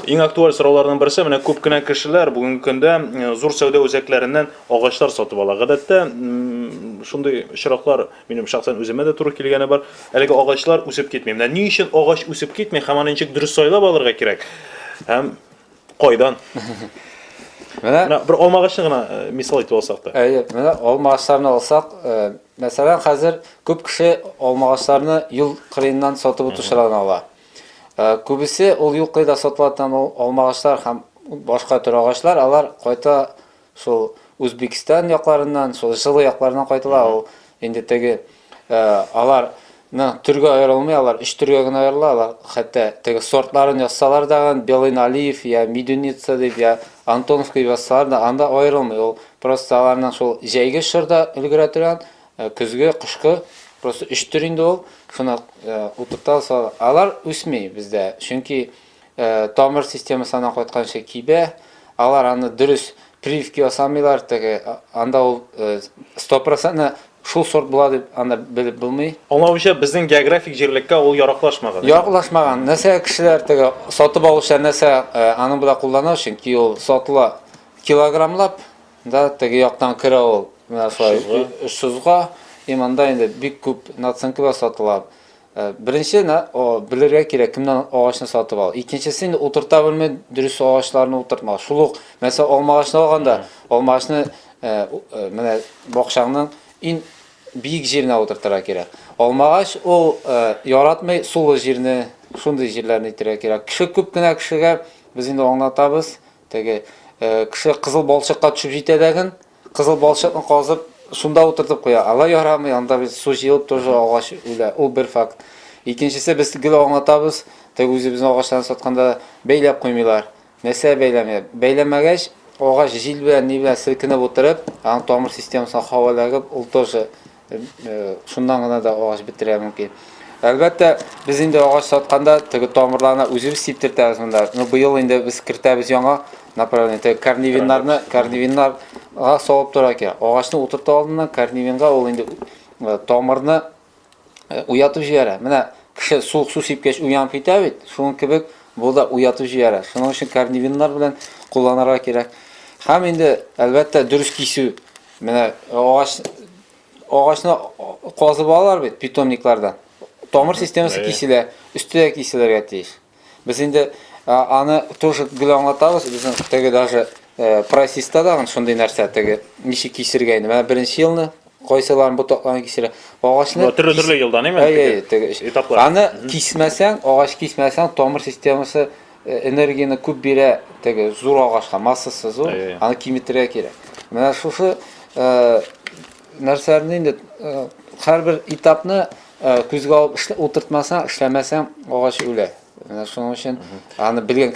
Иң актуаль сорауларның берсе менә күп кенә кешеләр бүгенге көндә э, зур сәүдә үзәкләреннән агачлар сатып ала. Гадәттә шундый очраклар минем шәхсән үземә дә туры килгәне бар. Әлеге агачлар үсеп китми. Менә ни өчен агач үсеп китми һәм аны ничек дөрес сайлап алырга кирәк? Һәм кайдан? Менә менә бер алма агачын гына э, мисал итеп алсак та. Әйе, менә алма агачларын алсак, э, мәсәлән, хәзер күп кеше алма агачларны юл кырыеннан сатып утыручылардан ала. Күбесе ул юклый да сатыла там ул алмагачлар һәм башка төр агачлар, алар кайта шул Үзбекстан якларыннан, шул җылы якларыннан кайтыла ул инде теге алар на төргә аерылмый алар, өч төргә генә аерыла алар, хәтта теге сортларын язсалар да, Белый Налиев, я Медуница дип, я Антоновка язсалар да, анда аерылмый ул, просто аларның шул җәйге чорда өлгерә торган, Көзге, кышкы, просто өч төр инде ул. Шуны утырта сала. Алар үсми бездә, чөнки тамыр системасы аннан кайтканчы кибә. Алар аны дөрес прививка ясамыйлар, теге анда ул стопроцентно шул сорт була дип анда белеп булмый. Аңлавымча, безнең географик җирлеккә ул яраклашмаган. Яраклашмаган. Нәрсә кешеләр теге сатып алучылар нәрсә аның белән куллана, чөнки ул сатыла килограммлап. Да, теге яктан керә ул, менә шулай Шузга, и монда инде бик күп наценки бар сатыла. Э, беренче белергә кирәк, кемнән агачны сатып ал. Икенчесе инде утырта белми дөрес агачларны утыртма. Шул ук, мәсәлән, алма агачны алганда, алма агачны э, э, менә бакчаңның иң биек җиренә утыртырга кирәк. Алма агач ул яратмый сулы җирне, шундый җирләрне итәргә кирәк. Кеше күп кенә кешегә без инде аңлатабыз, Теге кеше кызыл балчыкка төшеп җитә дәген, кызыл балчыкны казып, шунда утыртып куя. Ала ярамый, анда без су җыелып тоже агач үлә. Ул бер факт. Икенчесе без гел аңлатабыз, теге үзебезнең агачларны сатканда бәйләп куймыйлар. Нәрсә бәйләмиләр? Бәйләмәгәч, агач җил белән, ни белән селкенеп утырып, аның тамыр системасына һава эләгеп, ул тоже Шуннан гына да агач бетерә мөмкин. Әлбәттә, без инде агач сатканда теге тамырларына үзебез сиптертәбез монда. Ну, быел инде без кертәбез яңа направление. Теге корневиннарны, корневиннарга салып тора икән. Агачны утырту алдыннан корневинга ул инде э, тамырны э, уятып җибәрә. Менә кеше суык су сипкәч уянып китә бит. Шуның кебек бу да уятып җибәрә. Шуның өчен корневиннар белән кулланырга кирәк. Һәм инде, әлбәттә, дөрес кисү Менә агач агачны казып алалар бит питомниклардан. Тамыр системасы киселә, өсте дә киселергә тиеш. Без инде аны тоже гел аңлатабыз, безнең теге даже э, прайсиста дагын шундый нәрсә теге ничек кисергә инде. Менә беренче елны кайсыларын ботакларын кисерә. Агачны төрле төрле елдан әйме? Әйе, теге этаплар. Аны кисмәсәң, агач кисмәсәң, тамыр системасы Э, энергияне күп бирә теге зур агачка массасы зур э. аны киметергә кирәк менә шушы э, нәрсәләрне инде һәрбер этапны күзгә алып утыртмасаң эшләмәсәң агач үлә менә шуның өчен аны белгән